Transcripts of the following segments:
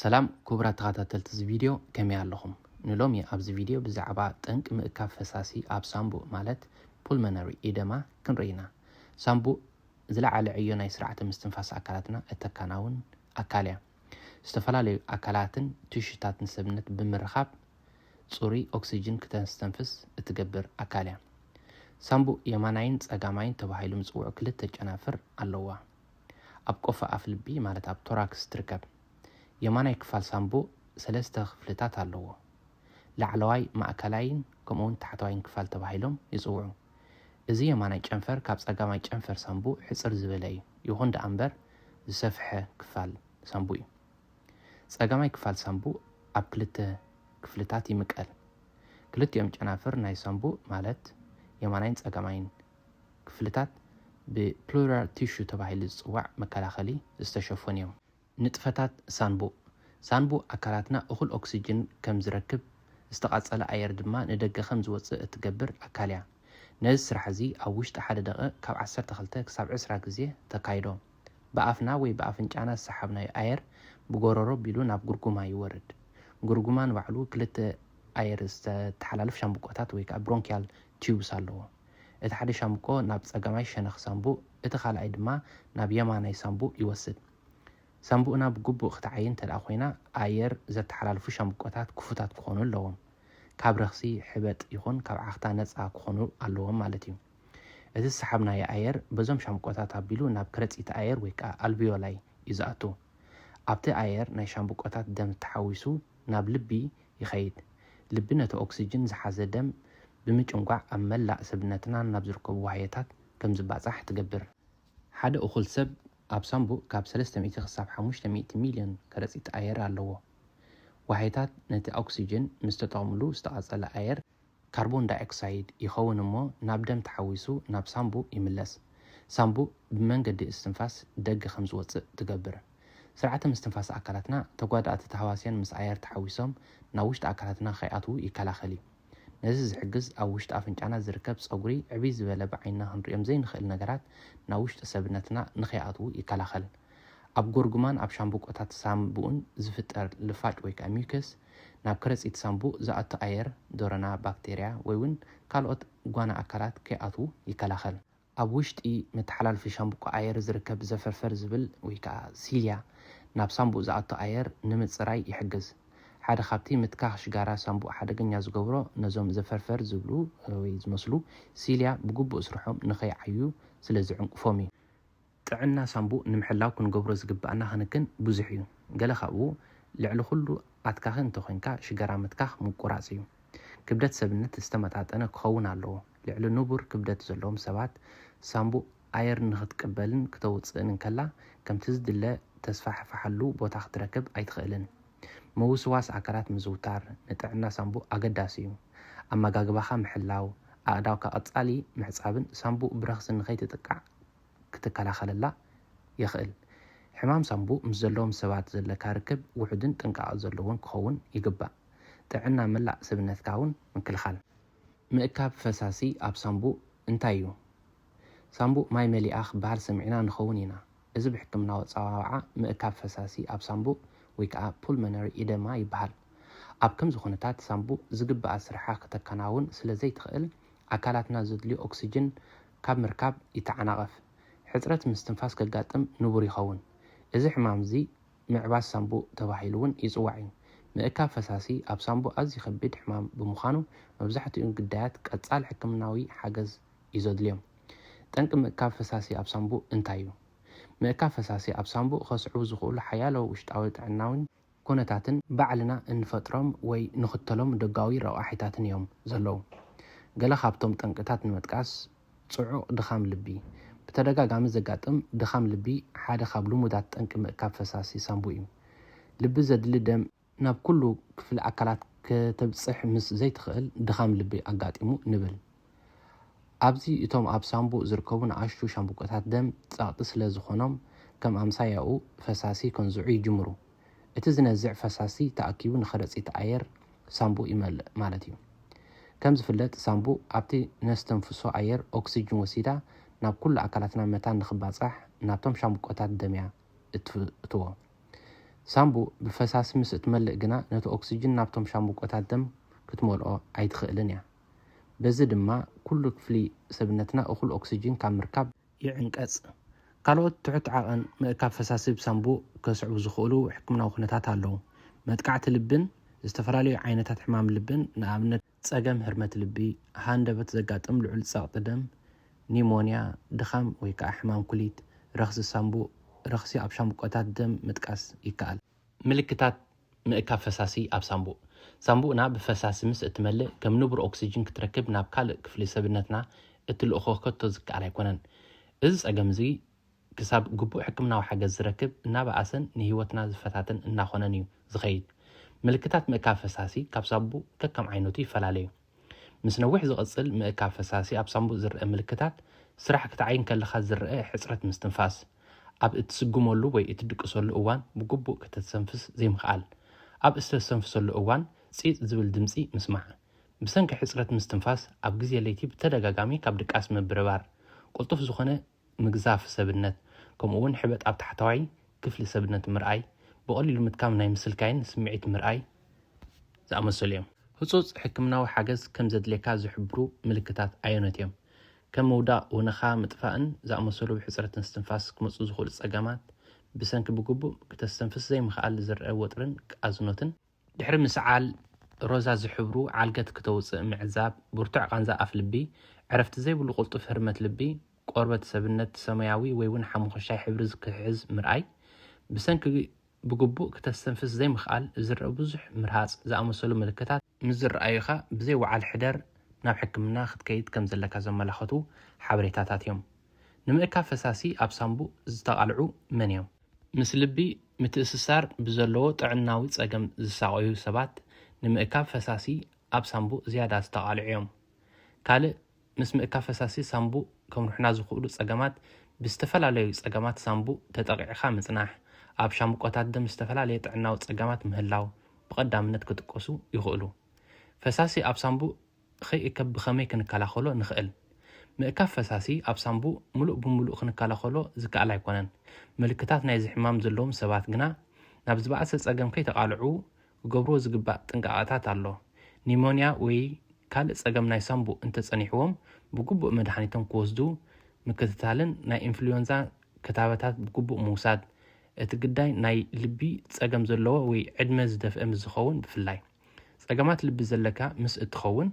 ሰላም ክቡራት ተኸታተልቲ እዚ ቪድዮ ከመይ ኣለኹም? ንሎሚ ኣብዚ ቪድዮ ብዛዕባ ጠንቂ ምእካብ ፈሳሲ ኣብ ሳምቡእ ማለት ፑልመነሪ ኢደማ ክንርኢ ኢና። ሳምቡእ ዝለዓለ ዕዮ ናይ ስርዓተ ምስትንፋስ ኣካላትና እተካናውን ኣካል እያ። ዝተፈላለዩ ኣካላትን ቲሹታትን ሰብነት ብምርኻብ ጽሩይ ኦክስጅን ክተስተንፍስ እትገብር ኣካል እያ። ሳምቡእ የማናይን ጸጋማይን ተባሂሉ ዝጽውዑ ክልተ ጨናፍር ኣለዋ። ኣብ ቆፎ ኣፍ ልቢ ማለት ኣብ ቶራክስ ትርከብ። የማናይ ክፋል ሳንቡእ ሰለስተ ክፍልታት ኣለዎ። ላዕለዋይ፣ ማእከላይን ከምኡ'ውን ታሕተዋይን ክፋል ተባሂሎም ይጽውዑ። እዚ የማናይ ጨንፈር ካብ ጸጋማይ ጨንፈር ሳንቡእ ሕጽር ዝበለ እዩ፣ ይኹን ደኣ እምበር ዝሰፍሐ ክፋል ሳንቡእ እዩ። ጸጋማይ ክፋል ሳንቡእ ኣብ ክልተ ክፍልታት ይምቀል። ክልቲኦም ጨናፍር ናይ ሳንቡእ ማለት የማናይን ጸጋማይን ክፍልታት ብፕሉራል ቲሹ ተባሂሉ ዝጽዋዕ መከላኸሊ ዝተሸፈኑ እዮም። ንጥፈታት ሳንቡእ፣ ሳንቡእ ኣካላትና እኹል ኦክስጅን ከም ዝረክብ፣ ዝተቓጸለ ኣየር ድማ ንደገ ከም ዝወጽእ እትገብር ኣካል እያ። ነዚ ስራሕ እዚ ኣብ ውሽጢ ሓደ ደቒቕ ካብ ዓሰርተ ክልተ ክሳብ ዕስራ ግዜ ተካይዶ። ብኣፍና ወይ ብኣፍንጫና ዝሰሓብናዮ ኣየር ብጎረሮ ኣቢሉ ናብ ጉርጉማ ይወርድ። ጉርጉማ ንባዕሉ ክልተ ኣየር ዝተሓላልፍ ሻምብቆታት ወይ ከዓ ብሮንኪያል ቲዩብስ ኣለዎ። እቲ ሓደ ሻምብቆ ናብ ጸጋማይ ሸነኽ ሳንቡእ እቲ ካልኣይ ድማ ናብ የማናይ ሳንቡእ ይወስድ። ሳንቡእና ብግቡእ ክትዓዪ እንተድኣ ኮይና ኣየር ዘተሓላልፉ ሻምብቆታት ክፉታት ክኾኑ ኣለዎም። ካብ ረኽሲ፣ ሕበጥ ይኹን ካብ ዓኽታ ነጻ ክኾኑ ኣለዎም ማለት እዩ። እቲ ዝሰሓብናዮ ኣየር በዞም ሻምብቆታት ኣቢሉ ናብ ከረጺት ኣየር ወይ ከኣ ኣልቪዮላይ እዩ ዝኣቱ። ኣብቲ ኣየር ናይ ሻምብቆታት ደም ተሓዊሱ፣ ናብ ልቢ ይኸይድ። ልቢ ነቲ ኦክስጅን ዝሓዘ ደም ብምጭንጓዕ ኣብ መላእ ሰብነትና ናብ ዝርከቡ ዋህዮታት ከም ዝባጻሕ ትገብር። ሓደ እኹል ሰብ ኣብ ሳንቡእ ካብ ሰለስተ ሚእቲ ክሳብ ሓሙሽተ ሚእቲ ሚልዮን ከረጺት ኣየር ኣለዎ። ዋህዮታት ነቲ ኦክስጅን ምስ ተጠቕምሉ ዝተቓጸለ ኣየር ካርቦን ዳይኦክሳይድ ይኸውን እሞ ናብ ደም ተሓዊሱ ናብ ሳንቡእ ይምለስ። ሳንቡእ ብመንገዲ እስትንፋስ ደገ ከም ዝወጽእ ትገብር። ስርዓተ ምስትንፋስ ኣካላትና ተጓዳእቲ ተሃዋስያን ምስ ኣየር ተሓዊሶም ናብ ውሽጢ ኣካላትና ከይኣትዉ ይከላኸል እዩ። ነዚ ዝሕግዝ ኣብ ውሽጢ ኣፍንጫና ዝርከብ ጸጉሪ ዕብይ ዝበለ ብዓይንና ክንርእዮም ዘይንኽእል ነገራት ናብ ውሽጢ ሰብነትና ንከይኣትዉ ይከላኸል። ኣብ ጎርጉማን ኣብ ሻምብቆታት ሳንቡእን ዝፍጠር ልፋጭ ወይከኣ ሚውከስ ናብ ከረጺት ሳንቡእ ዝኣቱ ኣየር ዶሮና ባክተርያ ወይ'ውን ካልኦት ጓና ኣካላት ከይኣትዉ ይከላኸል። ኣብ ውሽጢ መተሓላልፊ ሻምብቆ ኣየር ዝርከብ ዘፈርፈር ዝብል ወይ ከኣ ሲልያ ናብ ሳንቡእ ዝኣቱ ኣየር ንምጽራይ ይሕግዝ። ሓደ ካብቲ ምትካኽ ሽጋራ ሳንቡእ ሓደገኛ ዝገብሮ ነዞም ዘፈርፈር ዝብሉ ወይ ዝመስሉ ሲልያ ብግቡእ ስርሖም ንኸይዓዩ ስለ ዝዕንቅፎም'ዩ። ጥዕና ሳንቡእ ንምሕላው ክንገብሮ ዝግብኣና ክንክን ብዙሕ እዩ። ገለ ካብኡ ልዕሊ ኩሉ ኣትካኺ እንተኾይንካ ሽገራ ምትካኽ ምቁራጽ እዩ። ክብደት ሰብነት ዝተመጣጠነ ክኸውን ኣለዎ። ልዕሊ ንቡር ክብደት ዘለዎም ሰባት ሳንቡእ ኣየር ንኽትቅበልን ክተውጽእን እንከላ ከምቲ ዝድለ ተስፋሕፍሓሉ ቦታ ክትረክብ ኣይትኽእልን። ምውስዋስ ኣካላት ምዝውታር ንጥዕና ሳንቡእ ኣገዳሲ እዩ። ኣመጋግባኻ ምሕላው፣ ኣእዳውካ ቀጻሊ ምሕጻብን ሳንቡእ ብረኽሲ ንኸይትጥቃዕ ክትከላኸለላ የኽእል። ሕማም ሳንቡእ ምስ ዘለዎም ሰባት ዘለካ ርክብ ውሑድን ጥንቃቐ ዘለዎን ክኸውን ይግባእ። ጥዕና መላእ ሰብነትካ እውን ምክልኻል። ምእካብ ፈሳሲ ኣብ ሳንቡእ እንታይ እዩ? ሳንቡእ ማይ መሊኣ ክበሃል ሰሚዕና ንኸውን ኢና። እዚ ብሕክምናዊ ኣጸዋውዓ ምእካብ ፈሳሲ ኣብ ሳንቡእ ወይ ከኣ ፑልመነሪ ኢደማ ይበሃል። ኣብ ከምዚ ኩነታት ሳንቡእ ዝግበኣ ስርሓ ክተከናውን ስለ ዘይትኽእል ኣካላትና ዘድልዮ ኦክስጅን ካብ ምርካብ ይተዓናቐፍ። ሕጽረት ምስትንፋስ ከጋጥም ንቡር ይኸውን። እዚ ሕማም እዚ ምዕባስ ሳንቡእ ተባሂሉ እውን ይጽዋዕ እዩ። ምእካብ ፈሳሲ ኣብ ሳንቡእ ኣዝዩ ከቢድ ሕማም ብምዃኑ መብዛሕትኡ ግዳያት ቀጻሊ ሕክምናዊ ሓገዝ እዩ ዘድልዮም። ጠንቂ ምእካብ ፈሳሲ ኣብ ሳንቡእ እንታይ እዩ? ምእካብ ፈሳሲ ኣብ ሳንቡእ ከስዕቡ ዝኽእሉ ሓያሎ ውሽጣዊ ጥዕናዊን። ኩነታትን ባዕልና እንፈጥሮም ወይ ንኽተሎም ደጋዊ ረቋሒታትን እዮም ዘለዉ። ገለ ካብቶም ጠንቅታት ንምጥቃስ፣ ጽዑቕ ድኻም ልቢ፣ ብተደጋጋሚ ዘጋጥም ድኻም ልቢ ሓደ ካብ ልሙዳት ጠንቂ ምእካብ ፈሳሲ ሳንቡእ እዩ። ልቢ ዘድሊ ደም ናብ ኩሉ ክፍሊ ኣካላት ከተብጽሕ ምስ ዘይትኽእል ድኻም ልቢ ኣጋጢሙ ንብል። ኣብዚ እቶም ኣብ ሳንቡእ ዝርከቡ ንኣሽቱ ሻምብቆታት ደም ጸቕጢ ስለ ዝኾኖም ከም ኣምሳያኡ ፈሳሲ ከንዝዑ ይጅምሩ። እቲ ዝነዝዕ ፈሳሲ ተኣኪቡ ንከረጺት ኣየር ሳንቡእ ይመልእ ማለት እዩ። ከም ዝፍለጥ ሳንቡእ ኣብቲ ነስተንፍሶ ኣየር ኦክስጅን ወሲዳ ናብ ኩሉ ኣካላትና መታን ንክባጻሕ ናብቶም ሻምብቆታት ደም እያ እትፍትዎ። ሳንቡእ ብፈሳሲ ምስ እትመልእ ግና ነቲ ኦክስጅን ናብቶም ሻምብቆታት ደም ክትመልኦ ኣይትኽእልን እያ። በዚ ድማ ኩሉ ክፍሊ ሰብነትና እኹል ኦክስጅን ካብ ምርካብ ይዕንቀጽ። ካልኦት ትሑት ዓቐን ምእካብ ፈሳሲ ብ ሳንቡእ ከስዕቡ ዝኽእሉ ሕክምናዊ ኩነታት ኣለዉ። መጥቃዕቲ ልብን ዝተፈላለዩ ዓይነታት ሕማም ልብን ንኣብነት፣ ጸገም ህርመት ልቢ፣ ሃንደበት ዘጋጥም ልዑል ጸቕጢ ደም፣ ኒሞንያ፣ ድኻም ወይ ከኣ ሕማም ኩሊት፣ ረኽሲ ሳንቡእ፣ ረኽሲ ኣብ ሻምብቆታት ደም ምጥቃስ ይከኣል። ምልክታት ምእካብ ፈሳሲ ኣብ ሳንቡእ። ሳንቡእና ብፈሳሲ ምስ እትመልእ ከም ንቡር ኦክስጅን ክትረክብ ናብ ካልእ ክፍሊ ሰብነትና እትልእኮ ከቶ ዝከኣል ኣይኮነን። እዚ ጸገም እዚ ክሳብ ግቡእ ሕክምናዊ ሓገዝ ዝረክብ እናበኣሰን ንህይወትና ዝፈታተን እናኾነን እዩ ዝኸይድ። ምልክታት ምእካብ ፈሳሲ ካብ ሳንቡእ ከከም ዓይነቱ ይፈላለ እዩ። ምስ ነዊሕ ዝቕጽል ምእካብ ፈሳሲ ኣብ ሳንቡእ ዝርኣ ምልክታት፣ ስራሕ ክትዓዪ እንከለኻ ዝርኣ ሕጽረት ምስትንፋስ፣ ኣብ እትስጉመሉ ወይ እትድቅሰሉ እዋን ብግቡእ ከተተንፍስ ዘይምኽኣል፣ ኣብ እተስተንፍሰሉ እዋን ጺጽ ዝብል ድምጺ ምስማዕ፣ ብሰንኪ ሕጽረት ምስትንፋስ ኣብ ግዜ ለይቲ ብተደጋጋሚ ካብ ድቃስ ምብርባር፣ ቅልጡፍ ዝኾነ ምግዛፍ ሰብነት፣ ከምኡ'ውን ሕበጥ ኣብ ታሕተዋይ ክፍሊ ሰብነት ምርኣይ፣ ብቐሊሉ ምትካም ናይ ምስልካይን ስምዒት ምርኣይ ዝኣመሰሉ እዮም። ህጹጽ ሕክምናዊ ሓገዝ ከም ዘድልየካ ዝሕብሩ ምልክታት ኣየኖት እዮም? ከም ምውዳቕ፣ ውነኻ ምጥፋእን ዝኣመሰሉ ብሕጽረት እስትንፋስ ክመጹ ዝኽእሉ ጸገማት፣ ብሰንኪ ብግቡእ ክተስተንፍስ ዘይምኽኣል ዝርኣ ወጥርን ቃዝኖትን፣ ድሕሪ ምስዓል ሮዛ ዝሕብሩ ዓልገት ክተውጽእ ምዕዛብ፣ ብርቱዕ ቃንዛ ኣፍልቢ፣ ዕረፍቲ ዘይብሉ ቅልጡፍ ህርመት ልቢ፣ ቆርበት ሰብነት ሰማያዊ ወይ'ውን ሓሙኽሻይ ሕብሪ ክሕዝ ምርኣይ፣ ብሰንኪ ብግቡእ ክተስተንፍስ ዘይምኽኣል ዝርኣ ብዙሕ ምርሃጽ ዝኣመሰሉ ምልክታት፣ ምስ ዝርኣዩኻ ብዘይ ውዓል ሕደር ናብ ሕክምና ክትከይድ ከም ዘለካ ዘመላኸቱ ሓበሬታታት እዮም። ንምእካብ ፈሳሲ ኣብ ሳንቡእ ዝተቓልዑ መን እዮም? ምስ ልቢ ምትእስሳር ብዘለዎ ጥዕናዊ ጸገም ዝሳቐዩ ሰባት ንምእካብ ፈሳሲ ኣብ ሳንቡእ ዝያዳ ዝተቓልዑ እዮም። ካልእ ምስ ምእካብ ፈሳሲ ሳንቡእ ከምርሑና ዝኽእሉ ጸገማት ብዝተፈላለዩ ጸገማት ሳንቡእ ተጠቒዕኻ ምጽናሕ፣ ኣብ ሻምቆታት ደም ዝተፈላለየ ጥዕናዊ ጸገማት ምህላው ብቐዳምነት ክጥቀሱ ይኽእሉ። ፈሳሲ ኣብ ሳንቡእ ኺእከብ ብኸመይ ክንከላኸሎ ንኽእል? ምእካብ ፈሳሲ ኣብ ሳንቡእ ምሉእ ብምሉእ ክንከላኸሎ ዝከኣል ኣይኰነን። ምልክታት ናይዚ ሕማም ዘለዎም ሰባት ግና ናብ ዝበኣሰ ጸገም ከይተቓልዑ ክገብርዎ ዝግባእ ጥንቃቐታት ኣሎ። ኒሞንያ ወይ ካልእ ጸገም ናይ ሳንቡእ እንተ ጸኒሕዎም ብግቡእ መድሃኒቶም ክወስዱ ምክትታልን ናይ ኢንፍሉዌንዛ ክታበታት ብግቡእ ምውሳድ እቲ ግዳይ ናይ ልቢ ጸገም ዘለዎ ወይ ዕድመ ዝደፍኤ ምስ ዝኸውን ብፍላይ ጸገማት ልቢ ዘለካ ምስ እትኸውን፣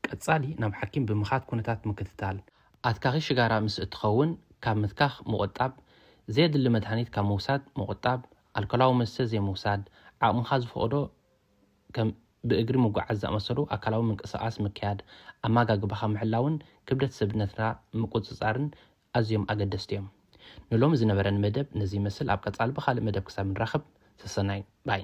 ቀጻሊ ናብ ሓኪም ብምኻድ ኩነታት ምክትታል። ኣትካኺ ሽጋራ ምስ እትኸውን ካብ ምትካኽ ምቑጣብ፣ ዘየድሊ መድሃኒት ካብ ምውሳድ ምቑጣብ፣ ኣልኮላዊ መስተ ዘይምውሳድ፣ ዓቕምኻ ዝፈቕዶ ከም ብእግሪ ምጉዓዝ ዝኣመሰሉ ኣካላዊ ምንቅስቓስ ምክያድ፣ ኣመጋግባኻ ምሕላውን ክብደት ሰብነትካ ምቁጽጻርን ኣዝዮም ኣገደስቲ እዮም። ንሎሚ ዝነበረኒ መደብ ነዚ ይመስል ኣብ ቀጻሊ ብኻልእ መደብ ክሳብ ንራኸብ ሰሰናዩ ባይ።